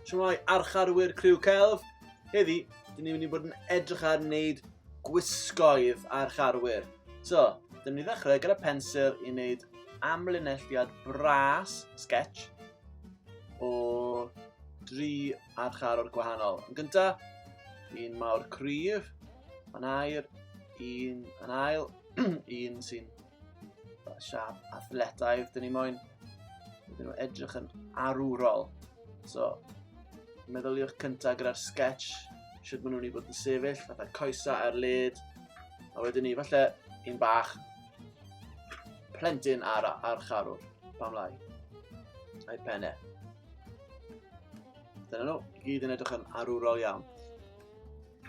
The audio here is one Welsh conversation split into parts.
Siwmai archarwyr criw celf. Heddi, dyn ni'n mynd i bod yn edrych ar wneud gwisgoedd ar charwyr. So, dyn ni'n ddechrau gyda pensil i wneud amlinelliad bras, sketch, o dri archarwr gwahanol. Yn gyntaf, un mawr cryf, Mae'n air un, yn ail un sy'n siap athletaidd. Dyn ni moyn iddyn nhw edrych yn arwrol. So, meddyliwch cyntaf gyda'r sketch, sydd maen nhw'n ei bod yn sefyll, fatha coesa ar led, a wedyn ni, falle, un bach, plentyn ar, ar charwr, pam lai, a'i penne. Dyna nhw, i gyd yn edrych yn arwrol iawn.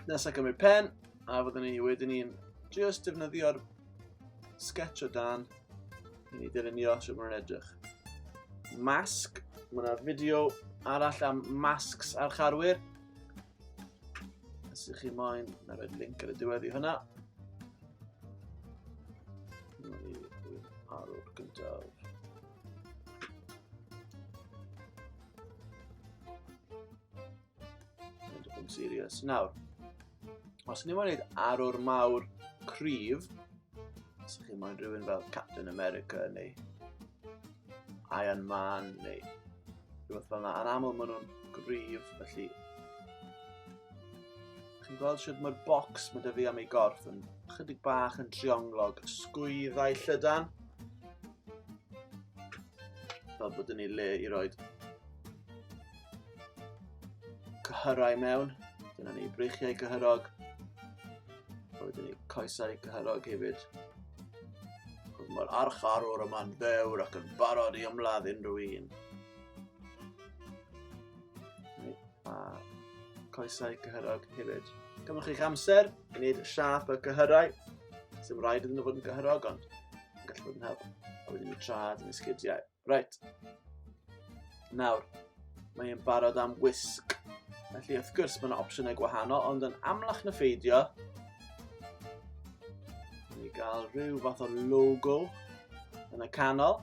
Nesaf gymryd pen, a fyddwn ni wedyn ni'n just defnyddio'r sketch o dan i ni dylunio sut mae'n edrych. Masg, mae yna fideo arall am masks ar charwyr. Os ydych chi moyn, na roed link ar y diwedd i hwnna. Mae ni ar o'r gyntaf. Dwi'n yn serious. Nawr, os ni moyn gwneud arwr mawr cryf, os ydych chi'n moyn rhywun fel Captain America neu Iron Man neu rhywbeth fel yna, yn aml maen nhw'n gryf, felly chi'n gweld sydd mae'r bocs mae dy fi am ei gorff yn chydig bach yn trionglog sgwyddau llydan. Fel bod yn ei le i roed cyhyrau mewn. Dyna ni, breichiau cyhyrog. A wedyn ni coesau cyhyrog hefyd. Cos mae'r archarwr yma'n ddewr ac yn barod i ymladd unrhyw un. A coesau cyhyrog hefyd. Gymwch chi'ch amser i wneud siap y cyhyrau. Sy'n rhaid iddyn nhw fod yn gyhyrog ond yn gallu bod yn help. A wedyn ni trad yn y sgidiau. Reit. Nawr, mae e'n barod am wisg. Felly, wrth gwrs, mae yna opsiynau gwahanol, ond yn amlach na pheidio, ni gael rhyw fath o logo yn y canol.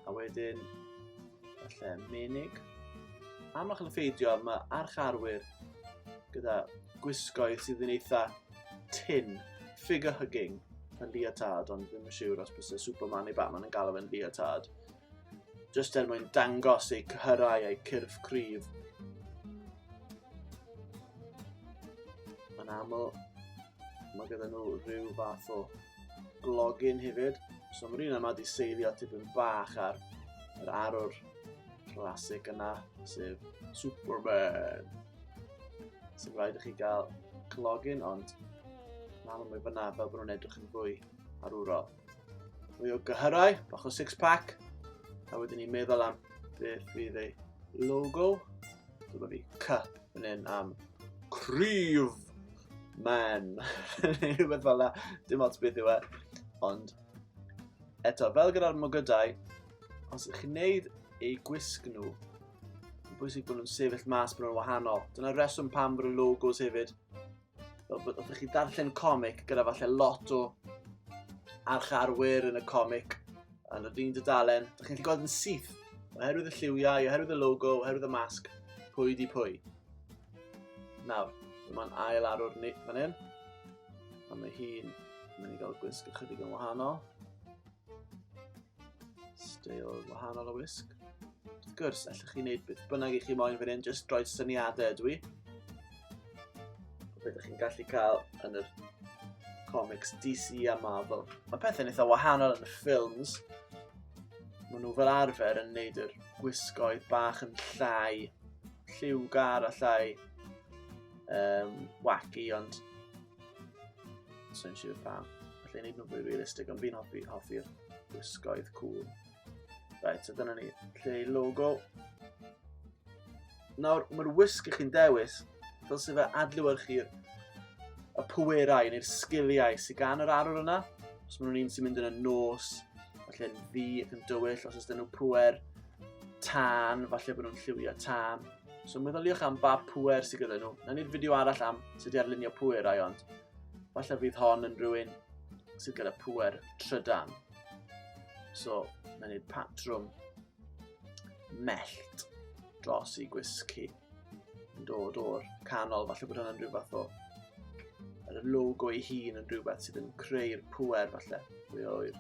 A wedyn, falle menig. Amlach yn y ffeidio, mae archarwyr gyda gwisgoedd sydd yn eitha tin, figure hugging, yn leotard, ond ddim yn siŵr os bys y Superman neu Batman yn galw fe'n leotard. Just er mwyn dangos eu cyhyrau eu cyrff cryf. Mae'n aml, mae gyda nhw rhyw fath o glogin hefyd. So mae'r un yma wedi seilio tipyn bach ar yr arwr clasic yna, sef Superman. So rhaid i chi gael clogin ond na mae fyna fel bod nhw'n edrych yn fwy arwrol. Mwy o gyhyrau, bach o six pack, a wedyn ni'n meddwl am beth fydd ei logo. Dyma fi cup yn un am cryf man, neu rhywbeth fel la, dim ots beth yw e. Ond eto, fel gyda'r mogydau, os ydych chi'n neud eu gwisg nhw Mae'n bwysig bod nhw'n sefyll mas bod nhw'n wahanol. Dyna'r reswm pam bod y logos hefyd. Fel bod ydych chi darllen comic gyda falle lot o archarwyr yn y comic yn yr un dydalen. Ydych chi'n gweld yn syth oherwydd y lliwiau, oherwydd y logo, oherwydd y masg, pwy di pwy. Nawr, mae'n ail arwr ni fan hyn. A mae hi'n mynd i gael gwisg ychydig yn wahanol. Steil wahanol o wisg. Wrth gwrs, allwch chi wneud beth bynnag i chi moyn fan hyn, jyst droed syniadau ydw i. Beth ydych chi'n gallu cael yn yr comics DC a Marvel. Mae pethau'n eitha wahanol yn y ffilms. Maen nhw fel arfer yn neud yr gwisgoedd bach yn llai lliwgar a llai um, wacky, ond Sa'n siŵr pam. Felly wneud nhw'n fwy realistig, ond fi'n hoffi, hoffi'r gwisgoedd cŵl. Right, so dyna ni. Lle i logo. Nawr, mae'r wisg i chi'n dewis, fel sy'n fe adlywyrchu'r y pwerau neu'r sgiliau sy'n gan yr arwr yna. Os maen nhw'n un sy'n mynd yn y nos, falle yn ddi ac yn dywyll, os ydyn nhw pwer, tân, falle bod nhw'n lliwio tân. So meddyliwch am ba pwer sydd gyda nhw. Na ni'r fideo arall am sut i arlunio pwer ai ond. Falle fydd hon yn rhywun sydd gyda pwer trydan. So, na ni'r patrwm mellt dros i gwisgu yn dod o'r canol, falle bod hwnna'n rhyw fath o yr logo ei hun yn rhywbeth sydd yn creu'r pwer falle, mwy o'r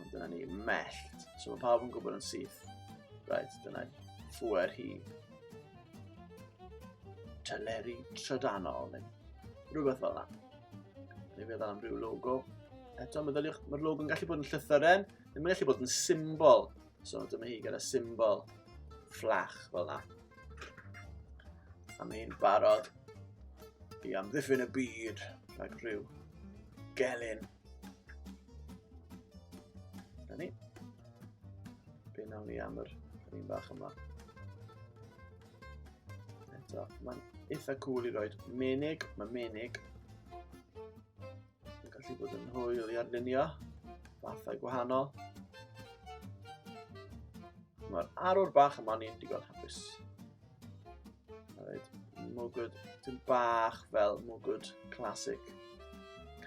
Ond dyna ni, mellt. So mae pawb yn gwybod yn syth. Right, dyna ffwer hi. Teleri trydanol, neu rhywbeth fel yna. Neu fe am rhyw logo. Eto, meddyliwch, mae'r logo yn gallu bod yn llythyren, ddim yn gallu bod yn symbol. So dyma hi gyda symbol fflach fel yna. A mae hi'n barod i amddiffyn y byd rhag rhyw gelyn. Da ni. Be nawn ni am yr un bach yma. Eto, mae'n eitha cool i roed menig, mae menig Mae'n gallu bod yn hwyl i arlunio fathau gwahanol. Mae'r arwr bach yma ni'n digon hapus. Alright, mwgwd, dim bach fel mwgwd classic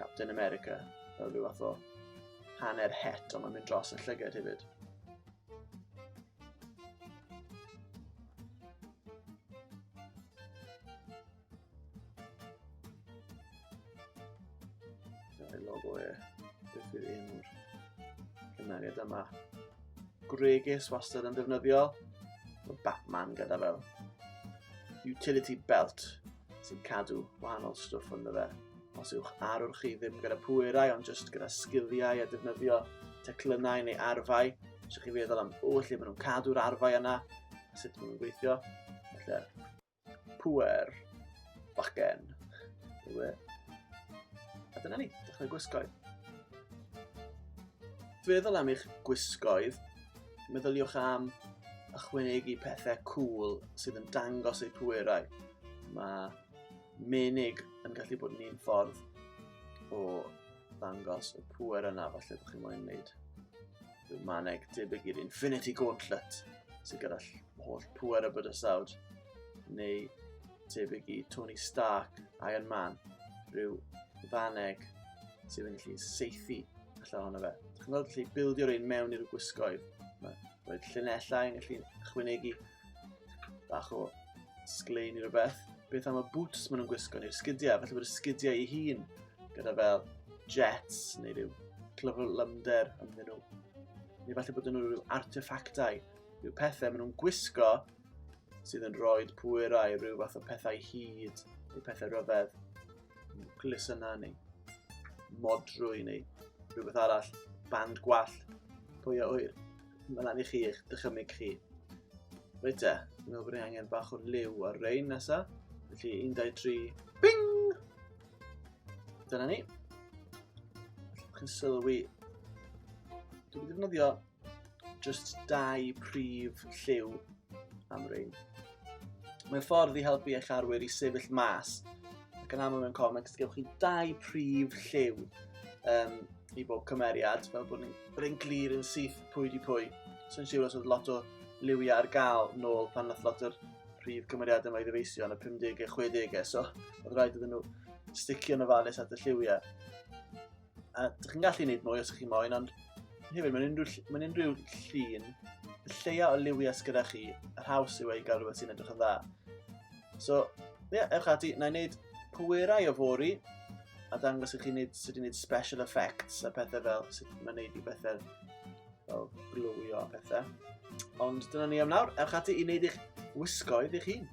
Captain America, fel rhyw fath o hanner het, ond mae'n mynd dros y llygad hefyd. Dyna'r logo e. Beth yw'r enw'r cymeriad yma? Gwregis wastad yn defnyddio. Mae Batman gyda fel utility belt sy'n cadw wahanol stwff ond fe. Os yw'ch arwr chi ddim gyda pwerau ond jyst gyda sgiliau a defnyddio teclynnau neu arfau, os ydych chi feddwl am, o, lle maen nhw'n cadw'r arfau yna, sut maen nhw'n gweithio, felly Pwer. Bachgen. Ewe. A dyna ni, dechrau gwisgoedd. Feddwl am eich gwisgoedd, meddyliwch am ychwanegu pethau cool sydd yn dangos eu pwerau. Mae menig yn gallu bod yn un ffordd o ddangos y pwer yna falle bod chi'n moyn wneud rhyw maneg debyg i'r Infinity Gauntlet sydd gyda holl pŵer y bydysawd, neu tebyg i Tony Stark, Iron Man, rhyw ddaneg sydd yn gallu seithi allan ohono fe. Dwi'n chi'n gweld gallu bildio'r ein mewn i'r gwisgoedd. Mae roed llunellau yn gallu chwynegu bach o sglein i rhywbeth. Beth am y boots maen nhw'n gwisgo neu'r sgidiau, felly bod y sgidiau ei hun gyda fel jets neu rhyw clyfrlymder ymddyn nhw. Neu falle bod nhw rhyw artefactau Byw pethau maen nhw'n gwisgo sydd yn rhoi pwyrau i ryw fath o pethau hyd neu pethau rhyfedd. Nucleus yna neu modrwy neu rhywbeth arall. Band gwall. Pwy a wyr? Mae'n lan i chi eich dychymig chi. Reit e, dwi'n meddwl bod ni angen bach o liw ar rein nesa. Felly 1, 2, 3, bing! Dyna ni. Chi'n sylwi. Dwi'n defnyddio jyst dau prif lliw am rein. Mae'n ffordd i helpu eich arwyr i sefyll mas ac yn aml mewn comics gewch chi dau prif lliw um, i bob cymeriad fel bod ni'n glir yn syth pwy di pwy. So'n siŵr os oedd lot o liwiau ar gael nôl pan nath lot o'r prif cymeriad yma i ddyfeisio yn y 50 a 60 so oedd rhaid iddyn nhw sticio yn ofalus at y lliwiau. A dych chi'n gallu gwneud mwy os ydych chi'n moyn, ond hefyd, mae'n unrhyw, mae unrhyw llun, y lleia o liwiau gyda chi, yr haws yw ei gael rhywbeth sy'n edrych yn dda. So, ie, yeah, ewch ati, na i wneud pwerau o fori, a dangos i chi wneud, sut i wneud special effects a pethau fel, sut mae'n wneud i bethau fel glywio a pethau. Ond dyna ni am nawr. Ewch ati i wneud eich wisgoedd eich hun.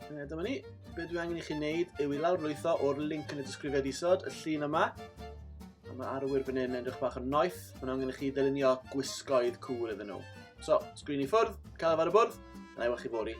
E, dyma ni. Be dwi angen i chi wneud yw i lawr lwytho o'r link yn y disgrifiad isod, y llun yma. A mae arwyr fan hyn yn edrych bach yn noeth. Mae'n angen i chi ddylunio gwisgoedd cŵl iddyn nhw. So, sgrin i ffwrdd, cael ar y bwrdd, na i wach chi fori.